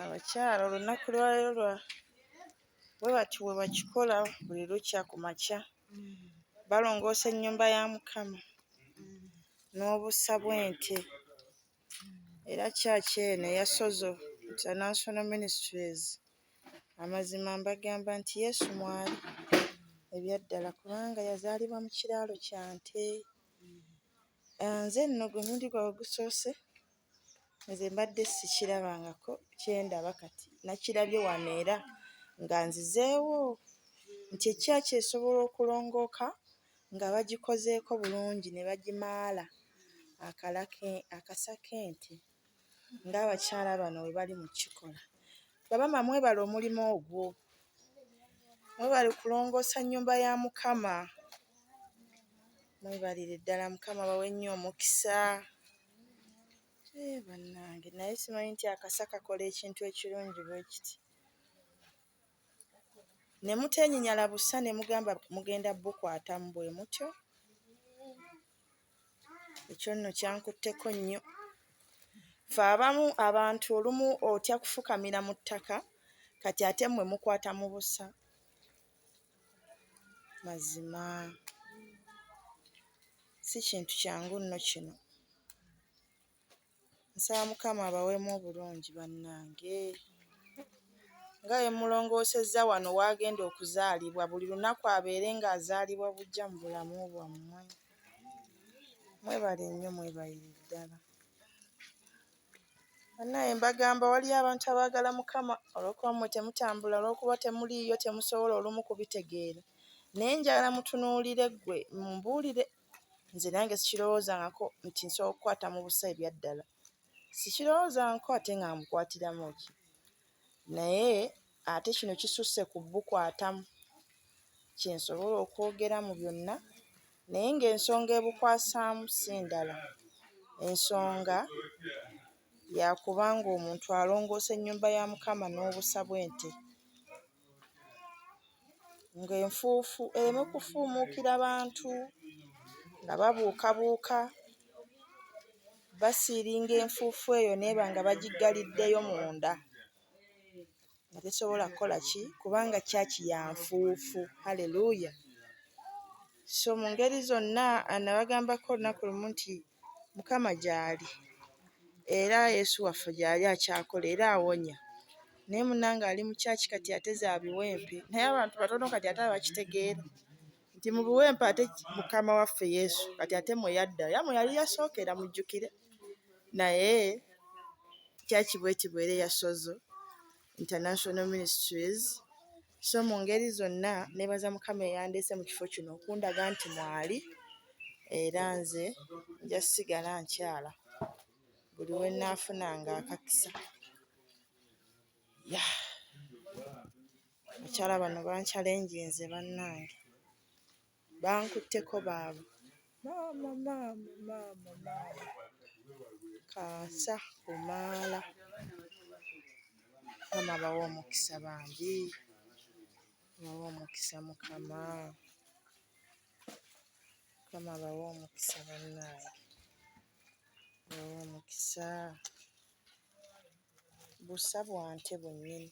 abakyala olunaku lwalero lwa bwe bati bwe bakikola buli lukya ku makya balongoosa ennyumba ya mukama n'obusa bw'ente era kyaki eno eya sozo international ministries amazima mbagamba nti yesu mwali ebyaddala kubanga yazaalibwa mu kiraalo kya nte Ah, nze nno gwe mundi gwa ogusoose nze mbadde sikirabangako kyendaba kati nakirabye wano era nga nzizeewo nti ekyaki esobola okulongooka nga bagikozeeko bulungi ne bagimaala akalake akasaka ente. ng'abakyala bano bwe bali mu kikola. Bamaama mwebale omulimu ogwo, mwebale kulongoosa nnyumba ya Mukama, mwebalire ddala Mukama abawe nnyo omukisa. Ee bannange naye simanyi nti akasa kakola ekintu ekirungi bwe kiti. Ne muteenyinyala busa ne mugamba mugenda bukwatamu bwe mutyo. ekyo nno kyankutteko nnyo fe abamu abantu olumu otya kufukamira mu ttaka kati ate mmwe mukwata mu busa mazima si kintu kyangu nno kino. Nsaba mukama abaweemu obulungi bannange. Nga bwe mmulongoosezza wano w'agenda okuzaalibwa buli lunaku abeere ng'azaalibwa buggya mu bulamu bwammwe. Mwebale nnyo mwebalire ddala. Bannange mbagamba waliyo abantu abaagala mukama olw'okuba mmwe temutambula olw'okuba temuliiyo temusobola olumu kubitegeera naye njagala mutunuulire ggwe mumbuulire nze nange sikirowoozangako nti nsobola okukwata mu busa ebyaddala sikirowoozangako ate nga mukwatiramu ki naye ate kino kisusse ku bukwatamu kyensobola okwogera mu byonna naye ng'ensonga ebukwasaamu si ndala ensonga yakubanga omuntu alongoosa ennyumba ya mukama n'obusa bw'ente. ng'enfuufu ereme kufuumuukira bantu nga babuukabuuka basiiringa enfuufu eyo n'eba nga bagiggaliddeyo munda nga tesobola kukola ki kubanga ccaaki ya nfuufu. Haleluya! So mu ngeri zonna nabagambako olunaku lumu nti mukama gyali era yesu waffe gyali akyakola era awonya naye munange ali mu kyaki kati ate zabiwempe naye abantu batono kati ate abakitegeera nti mu biwempe ate mukama waffe yesu kati ate mweyadda yamwe yali yasookera mujjukire naye kyaki bwekibwere yasozo International Ministries so mu ngeri zonna nebaza mukama eyandeese mu kifo kino okundaga nti mwali era nze nja sigala nkyala buli we naafunanga akakisa ya bakyala bano bankyalenjinze bannange Bankutteko baaba. Maama maama maama maama kaasa kumaala mukama abawe omukisa bambi abawe omukisa mukama mukama abawe omukisa bannange abawe omukisa busa bwa nte bwennyini.